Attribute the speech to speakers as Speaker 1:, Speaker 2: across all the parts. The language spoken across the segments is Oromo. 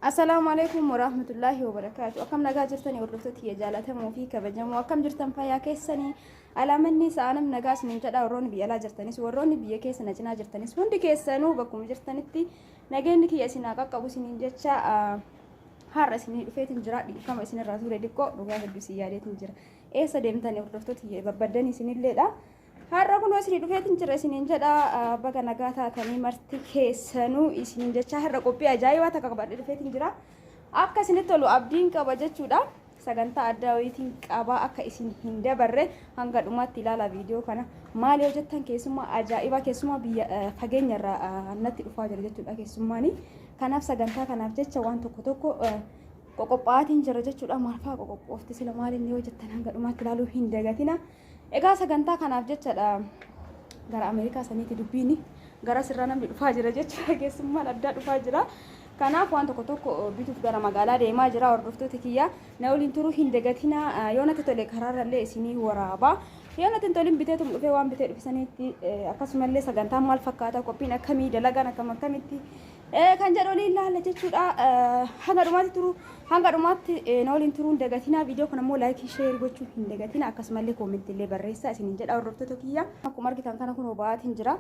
Speaker 1: Assalaamu alaikum warahmatullaahi wabarakaatu. Akkam nagaa jirtanii hordoftoota kiyya jaallatamoo fi kabajamoo akkam jirtan fayyaa keessanii alaamanni sa'aanam nagaa isiniin jedha warroonni biyya alaa jirtanis warroonni biyya keessa na cinaa jirtanis hundi keessanuu bakkuma jirtanitti nageenyi kiyya isin haa qaqqabu isiniin jecha har'a isinii dhufeetiin jira dhiifama isinirraa ture xiqqoo dhugaa hedduu isin yaadeetiin jira eessa deemtanii hordoftoota kiyya barbaaddanii isinilleedha. Har'a kunoo isinii dhufeetiin jira isiniin jedha baga nagaa taatanii marti keessanuu isiniin jechaa har'a qophii ajaa'ibaa takka qabadhee dhufeetiin jira akka isinitti tolu abdiin qaba jechuudha sagantaa addaa wayiitiin qabaa akka isin hin dabarre hanga dhumaatti ilaala viidiyoo kana maal yoo jettan keessummaa ajaa'ibaa keessummaa biyya fageenya irraa natti dhufaa jira jechuudha keessummaanii kanaaf sagantaa kanaaf jecha waan tokko tokko qoqophaatiin jira jechuudha maalfaa qoqophoofti sila maaliin yoo jettan hanga dhumaatti ilaaluu hin dagatina Egaa sagantaa kanaaf jechadha gara Ameerikaa saniiti dubbiini. Gara sirraa namni dhufaa jira jechuudha. Keessummaan addaa dhufaa jira. Kanaaf waan tokko tokko bituuf gara magaalaa deemaa jira. Hordoftooti kiyya na waliin turuu hin dagatina. Yoo natti tole karaarrallee isinii waraaba. Yoo natti hin tolin biteetum dhufee waan bitee dhufisaniitti akkasumallee sagantaan maal fakkaata qophiin akkamii dalagaan akkam akkamitti kan jedhu waliin laalla jechuudha. Hanga dhumaatti turu hanga dhumaatti na waliin turuun dagatina viidiyoo kana immoo laayikii sheer gochuu hin dagatina akkasumallee koomentii illee barreessaa isin hin jedha hordoftoota kiyya. Akkuma argitan kana kunoo ba'aatiin jira.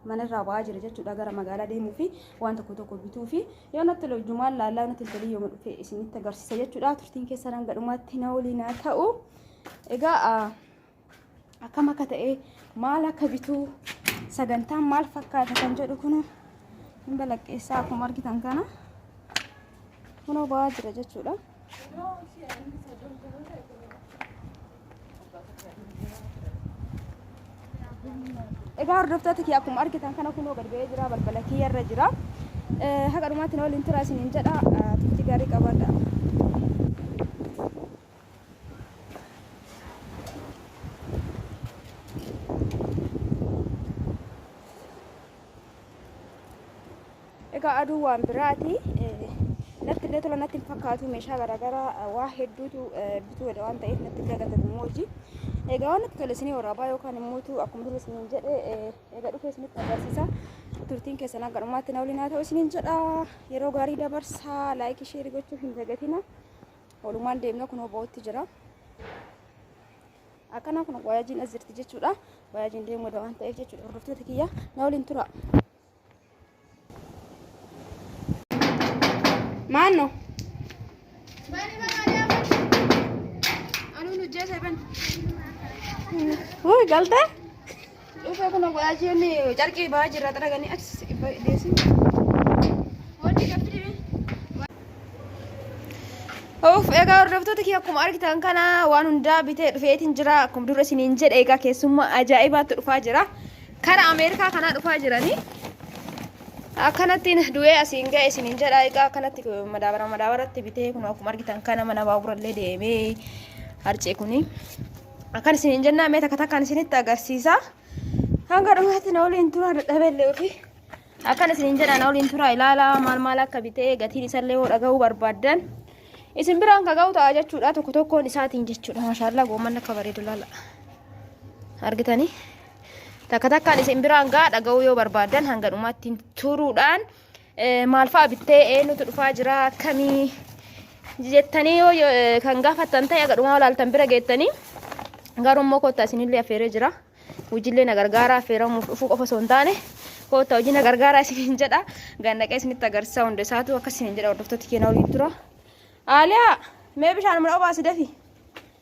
Speaker 1: manarraa ba'aa jira jechuudha gara magaalaa deemuu fi waan tokko tokko bituu fi yoo natti tole hojjumaan laallaa natti tole yoo dhufe isinitti agarsiisa jechuudha turtiin keessan hanga dhumaatti na waliin haa ta'u egaa akkam akka ta'e maal akka bituu sagantaan maal fakkaata kan jedhu kun hin balaqqeessaa akkuma argitan kana kunoo ba'aa jira jechuudha. Egaa hordoftoota kiyya akkuma argitan kana kunoo gad ba'ee jira balbala kiyya irra jira. Haqa dhumaatti na waliin tura isiniin jedha turtii gaarii qabaadha. egaa aduu waan biraati natti illee tola natti hin fakkaatu meeshaa garaagaraa waa hedduutu bituu jedha waan ta'eef natti illee gata gammoojii egaa waan natti tole isinii waraabaa yookaan immoo akkuma dura isiniin jedhe egaa dhufee isinitti agarsiisa turtiin keessan akka dhumaatti na waliin haa ta'u isiniin jedha yeroo gaarii dabarsaa laayikii sheerii gochuu hin dagatina. Walumaan deemnee kunoo ba'utti jira. Akkanaa kun waayaajiin as jirti jechuudha. Waayaajiin deemuu dha waan ta'eef jechuudha. Hordoftoota kiyya na waliin tura. Maanno. Wuu galtee? Dhufee kun waajjiin carqii ba'aa jirra xaraganii achi deessin. Wanti gaffi deebiin. Uuf egaa hordoftoota kee akkuma argitan kana waan hundaa bitee dhufeetiin jira akkuma dura isiniin jedhe egaa keessummaa ajaa'ibaatti dhufaa jira kara Ameerikaa kanaa dhufaa jiranii akkanattiin du'ee asiin ga'e isiniin jedha egaa akkanatti madaabara madaabaratti bitee kun akkuma argitan kana mana baaburallee deemee harcee kuni. akkan isin hin jennaa mee takka takkaan isinitti agarsiisa hanga dhumaatti na waliin turaa dadhabellee ofii akkan isin hin jedha na waliin turaa ilaalaa maal maal akka bitee gatiin isallee yoo dhaga'uu barbaaddan isin biraan ka ga'u ta'a jechuudha tokko tokkoon isaatiin jechuudha maashaallaa goomman akka bareedu laala argitanii takka takkaan isin biraan ga'a dhaga'uu yoo barbaaddan hanga dhumaatti turuudhaan Maal fa'a bittee eenyutu dhufaa jira akkamii jettanii yoo yoo- eh, kan gaafattan ta'e agadhumaa olaaltan bira geettanii garuu immoo koottaa isinillee affeeree jira. Hojiillee na gargaaraa affeeramuuf dhufuu qofa osoo hin taane koottaa hojii na gargaaraa isiniin jedha. Gannaqee isinitti agarsiisaa hunda isaatu akka isiniin jedha hordoftoota keenyaa waliin tura. Aaliyaa mee bishaan mana obaasi dafi.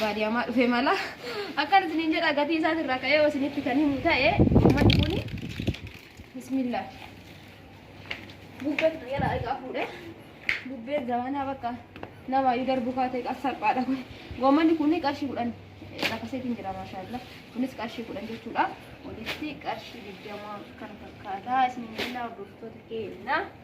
Speaker 1: baadiyaamaa dhufe mala akkan isiniin jedha gatii isaas irraa ka'ee yoo isinitti kan himu ta'e uummanni kun bismillah bubbeen kan yala egaa fuudhe bubbeen zamanaa bakka nama yu darbu kaatee qas salphaadha kun goommanni kun qarshii kudhan lakaseetiin jira maashaallah kunis qarshii kudhan jechuudha walitti qarshii digdamaa kan fakkaataa isiniin jennaa hordoftoota keenya.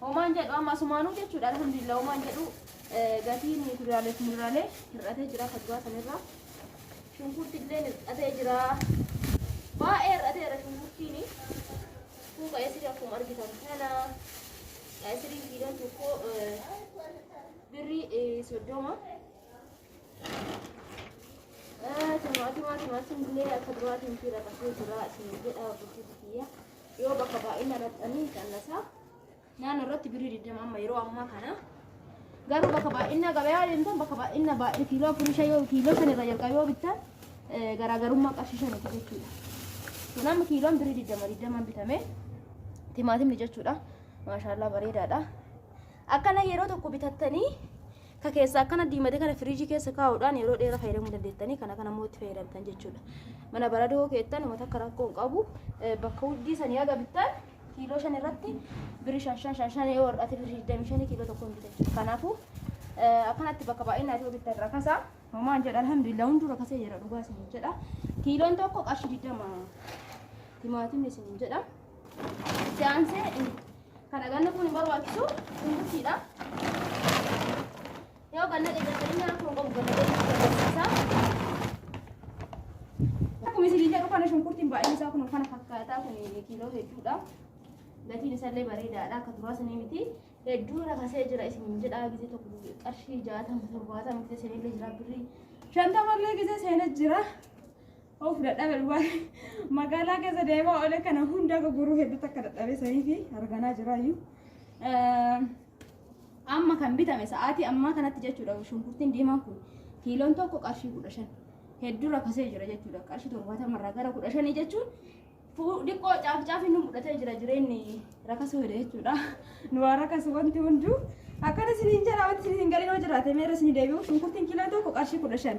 Speaker 1: Homaan jedhu amma asumaanuu jechuudha alhamdulillah homaan jedhu gatiin kuduraalee fi muduraalee hir'atee jira kaduraa sanirraa. Shunkurti illee hir'atee jira. Baay'ee hir'ateera shunkurtiin. Kuuka esirii akkuma argitan kana esirii kiiloon tokko birrii soddoma. Timaatimaa timaatiin illee akka duraatiin fiira qasee jira isin jedha bulchiinsi kiyya. yoo bakka baay'ina irratti qannasaa naannoo irratti birrii digdama amma yeroo ammaa kana garuu bakka baay'ina gabayaa deemtan bakka baay'ina baay'ee kiiloo afurii shan yoo kiiloo shan irraa jalqabe yoo bittan garaagarummaa qarshii shaniiti jechuudha. Kun amma kiiloon birrii digdama digdamaan bitame timaatimni jechuudha. Maashaallah bareedaadha. Akkana yeroo tokko bitattanii Ka keessaa akkana diimate kana firiijii keessa kaa'uudhaan yeroo dheeraa fayyadamuu dandeettanii kana kana immoo itti fayyadamtan jechuudha. Mana baradoo keettan uummata akka rakkoo hin qabu bakka huddii sanii haga bittan kiiloo shan irratti birii shan shan shan shan yoo hir'ate birii digdamii shanii kiiloo tokko hin bitan jechuudha. Kanaafuu akkanatti bakka baay'inaa yoo bittan rakasa homaan jedha alhamdulillah hunduu rakasee jira dhugaa isin jedha. Kiiloon tokko qarshii digdama timaatimni isin jedha. Se'aansee Kana ganna kun hin barbaachisu shunkurtiidha. Yoo ganna qeecaccanii nyaata kun qabu ganna qeecaccanii Akkuma isin jedhu kana shunkurtiin baay'een isaa kun kana fakkaataa kun kiiloo hedduudha. Gatiin isaallee bareedaadha akka duraa sanii miti. Hedduu rakasee jira isin jedhaa gisee tokko qarshii jaatama torbaatama gisee seenillee jira birrii shantamallee gisee seenee jira. Of dadhabe dhugaa magaalaa keessa deemaa oole kana hunda akka guruu hedduu takka dadhabe sanii fi arganaa jiraayyuu. Amma kan bitame sa'aatii ammaa kanatti jechuudha shunkurtiin diimaan kun kiiloon tokko qarshii kudha shan hedduu rakkasee jira jechuudha qarshii torbaatama irraa gara kudha shanii jechuun dhiqqoo caaf caaf inni mudhatee jira jireenyi rakkasuu hidha jechuudha nu waa rakkasu wanti hunduu akkana isiniin jedha wanti isiniin galinoo jiraate meera isinii deebi'u shunkurtiin kiiloon tokko qarshii kudha shan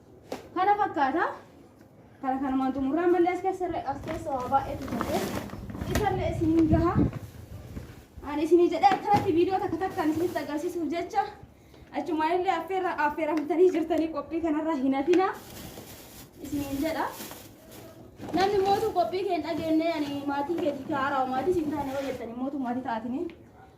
Speaker 1: Kana fakkaata. Kana kanumaan xumurraa malee as keessa as keessa waa baay'eetu ta'e. Isallee isiniin gaha. Ani isinii jedhee akkanatti viidiyoo takka takkaan isinitti agarsiisuuf jecha achumaa illee affeerra affeeramtanii jirtanii qophii kanarraa hin hafina isiniin jedha. Namni mootu qophii kee hin dhageenye ani maatii keetii kaa'araa maatii siin taane yoo jettanii mootu maatii taatanii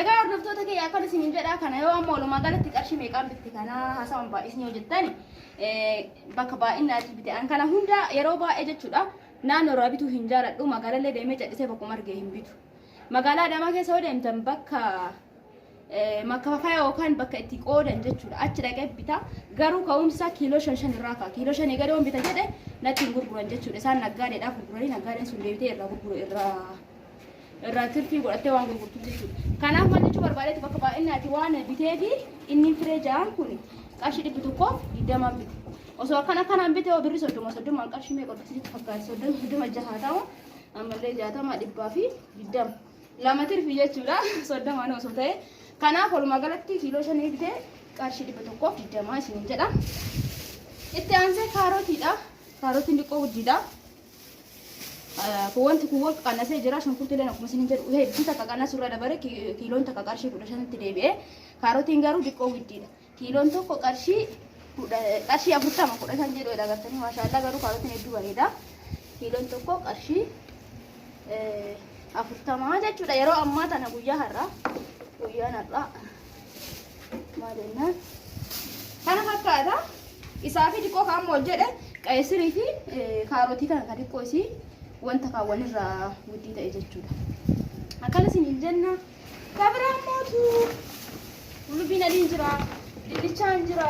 Speaker 1: Egaa hordoftoota kee akkan isiniin jedhaa kana yoo amma walumaa galatti qarshii meeqaan bitti kana haasawaan baay'isni yoo jettan bakka baay'innaatti bite an kana hunda yeroo baay'ee jechuudha naannoo irraa bituu hin jaaladhu magaalallee deemee cadhisee bakkuma argee hin bitu magaalaa Adaamaa keessa yoo deemtan bakka makkafafa yookaan bakka itti qoodan jechuudha achi dhaqee bita garuu ka'umsa kiiloo shan shan irraa ka'a kiiloo shanii gadi waan bita jedhe natti hin gurguran jechuudha isaan naggaadeedhaa gurguranii naggaadeen sun deebitee irraa gurguru irraa irraa tirfii godhattee waan gurgurtuuf jechuudha. Kanaaf maal jechuu barbaadeetu bakka baay'inni ati waan bitee fi inni firee ja'aan kun qarshii dhibbi tokko digdamaan bite. Osoo akkana akkanaan bite birri soddoma soddomaan qarshii meeqa bitti sitti fakkaata soddoma soddoma jahaa ta'u ammallee jaatama dhibbaa fi digdama. Lama tirfii jechuudha soddomaan osoo ta'e. Kanaaf walumaa galatti kiiloo shanii bite qarshii dhibba tokkoof digdamaa isiniin jedha. Itti aansee kaarotiidha. Kaarotiin xiqqoo guddiidha. Wanti kun wal qaqannasee jira. Shunkurtiileen akkuma isin jedhu hedduu takka qannasu irra dabaree kiiloon takka qarshii kudha shanitti deebi'ee kaarotiin garuu diqqoo widdiidha. Kiiloon tokko qarshii qarshii afurtama kudha shan jedhu agartanii maashaallah garuu kaarotiin hedduu bareeda. Kiiloon tokko qarshii afurtama jechuudha yeroo ammaa tana guyyaa har'aa guyyaan har'aa. maal jennaan kana fakkaata isaa fi xiqqoo kan ammoo jedhe qayisirii fi kaarotii kana kan xiqqoo isii wanta kan walirraa guddii ta'e jechuudha akkana isin hin jenna kabira mootu lubbiin adiin jira dinnichaan jira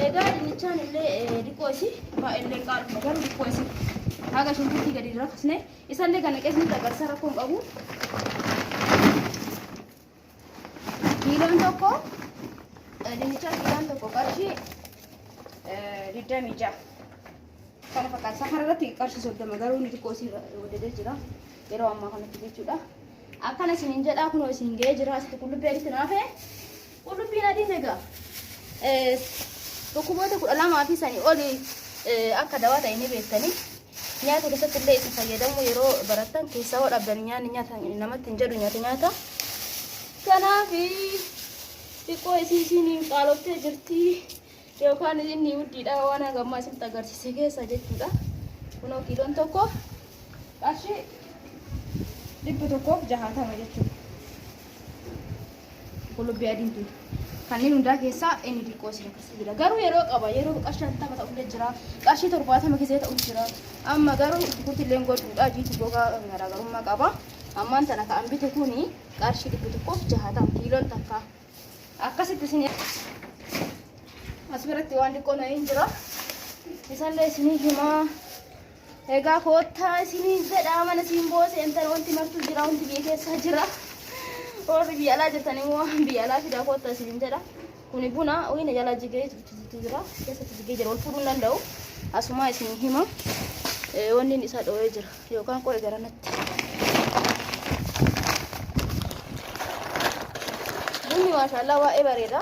Speaker 1: egaa dinnichaan illee xiqqoo isii baay'ee qaaluma garuu xiqqoo isii haga shunkurtii gadi hin rakkisne isallee kana qeesni dagarsa rakkoon qabu Kiiloon tokko dinnichaa kiiloon tokko qarshii digdamii ja'a. Kana fakkaata. Safara irratti qarshii soddoma garuu inni xiqqoo isii waddadee jira. Yeroo ammaa kanatti jechuudha. Akkana isiniin jedhaa kunoo isin ga'ee jira. Asitti qullubbii adiitti naafee. Qullubbiin adiin egaa dhukkuboota kudha lamaa fi sanii oli akka dawaa ta'e ni beektanii. Nyaata keessatti illee itti fayyadamu yeroo barattan keessaa hoo dhabdan nyaanni nyaata namatti hin jedhu nyaata nyaata. Kanaaf xiqqoo isii isiin hin qaaloftee jirti yookaan inni huddiidha waan hanga ammaa isinitti agarsiise keessa jechuudha. Kunoo kiiloon tokko qarshii dhibba tokkoof jahaatama jechuudha. Qullubbii adiin tun kanneen hundaa keessaa inni xiqqoo si rakkisa jira. Garuu yeroo qaba yeroo qarshii shantama ta'ullee jira. Qarshii torbaatama keessee ta'u jira. Amma garuu shunkurtii illee gochuudha jiitu gogaa garaagarummaa qaba. Ammaan tana ka'an bitu kuni qarshii dhibbi tokkoof jahatam kiiloon takka. Akkasitti isin as biratti waan xiqqoo na hin jira. Isallee isinii himaa. Egaa koottaa isiniin jedhaa mana siin boo seentan wanti martuu jira wanti biyya keessaa jira. Warri biyya alaa jirtan immoo waan biyya alaa fidaa koottaa isiniin jedha. Kuni buna wayina jalaa jigee jibbitu jira keessatti jigee jira wal fuudhuu hin danda'u. Asumaa isin hima eh, wanni inni isaa dhooyee jira yookaan qo'e garanatti. Bunni maashaallah waa'ee bareeda.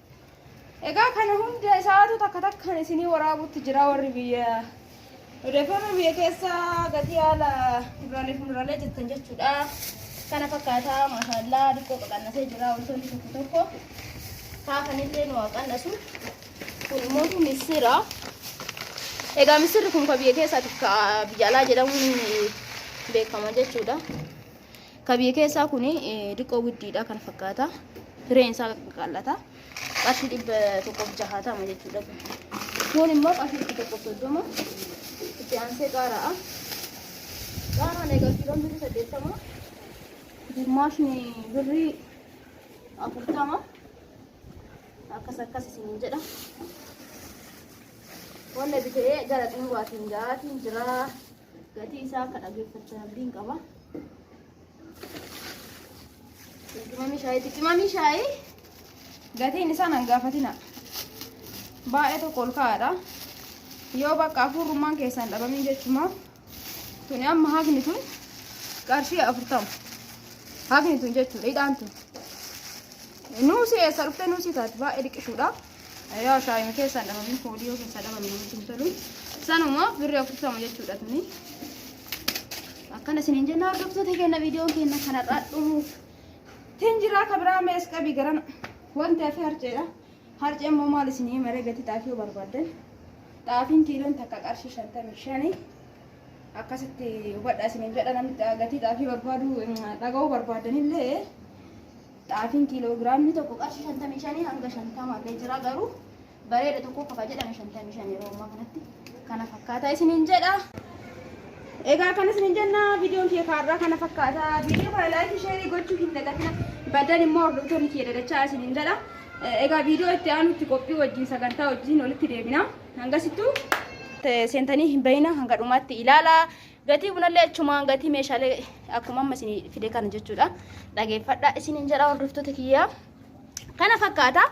Speaker 1: Egaa kana hunda isaatu takka takkaan isinii waraabutti jira warri biyya odeeffannoo biyya keessa gatii haala kuduraalee fi muduraalee jettan jechuudha. Kana fakkaataa maashaallaa diqqoo qaqannasee jira wantoonni tokko tokko kaafanillee nu qannasu. Kun immoo missira. Egaa missirri kun kan biyya keessaatiif biyya alaa jedhamuun beekama jechuudha. Ka biyya keessaa kun diqqoo widdiidha kana fakkaata. Fireen isaa qaqallata. Qarshii dhibba tokkoof jahaatama jechuudha. Kun immoo qarshii dhibba tokkoof soddoma. Itti aansee qaara'a. Qaaraan egaa kiiloon birrii saddeettama. Dimmaashni birrii afurtama. Akkas akkas isin jedha. Wanna bitee gara xumuraatiin ga'aatiin jiraa. Gatii isaa akka dhageeffattan abdiin qaba. Qimamii shaayiiti. Qimamii shaayii gatiin isaa nan gaafatina. Baay'ee tokko ol ka'aadha. Yoo bakka afurrummaan keessaan dhabamin jechumaa tuni amma hafni tun qarshii afurtama. Hafni tun jechuudha hidhaan tun. Nuusii eessa dhuftee nuusii taati baay'ee dhiqishuudha. yoo ashaayima keessaan dhabamne koodii yoo keessaa dhabamne namatti hin tolu sanuma birri afurtama jechuudha tuni akkana isiniin jenna hordoftoota keenya viidiyoon keenya kanarraa dhumuuf tin jiraa kabiraa mees qabi garan wanti hafe harceedha harcee immoo maal isinii maree gatii xaafii yoo barbaaddan xaafiin kiiloon takka qarshii shantamii shanii akkasitti hubadha isiniin jedha namni gatii xaafii barbaadu dhaga'uu barbaaddanillee Xaafiin kiiloogiraamni tokko qarshii 55 hanga 50 illee jira garuu bareeda tokko qofa jedhame 55 yeroo ammaa kanatti kana fakkaataa isiniin jedha. Egaa kan isiniin jenna viidiyoon kiyya kaarraa kana fakkaata. Viidiyoo kana laayikii sheerii gochuu hin dagatina. Baddan immoo hordoftoonni kiyya dadachaa isiniin jedha. Egaa viidiyoo itti aanutti qophii wajjin sagantaa wajjin walitti deebina. Hangasittuu seentanii hin bayina hanga dhumaatti ilaalaa. Gatii bunallee achumaan gatii meeshaalee akkuma amma isin fide kana jechuudha. Dhageeffadha isinin jedha hordoftoota kiyyaa. Kana fakkaata.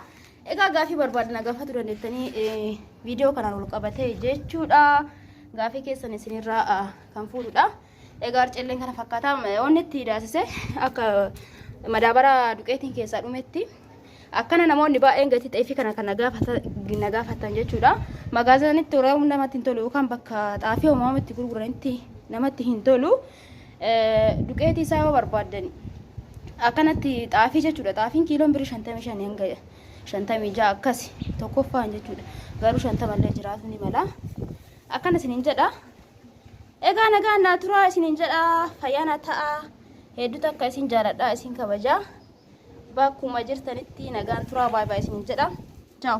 Speaker 1: Egaa gaafii barbaadan gaafatu dandeettanii eh, viidiyoo kanaan wal qabatee jechuudha. Gaafii keessan isinirraa ah, kan fuudhudha. Egaa arcelleen kana fakkaata. Wanni itti daasise akka madaabara duqeetiin keessaa dhumetti Akkana namoonni baay'een gatii xaayifii kana kan na gaafattan jechuudha. Magaazanitti waraabuun namatti hin tolu yookaan bakka xaafii homaa itti gurguranitti namatti hin tolu. Duqeetii isaa yoo barbaaddan akkanatti xaafii jechuudha. Xaafiin kiiloon birii shantamii shan hanga shantamii ja'a akkasi tokkoffaan jechuudha. Garuu shantama illee jiraatu ni mala. Akkana isiniin jedha. Egaa nagaan naa turaa isiniin jedha. Fayyaa naa ta'a. Hedduu takka isin jaaladha isin kabajaa. Bakkuma jirtanitti nagaan turaa baay baay isiniin jedha. Ciao.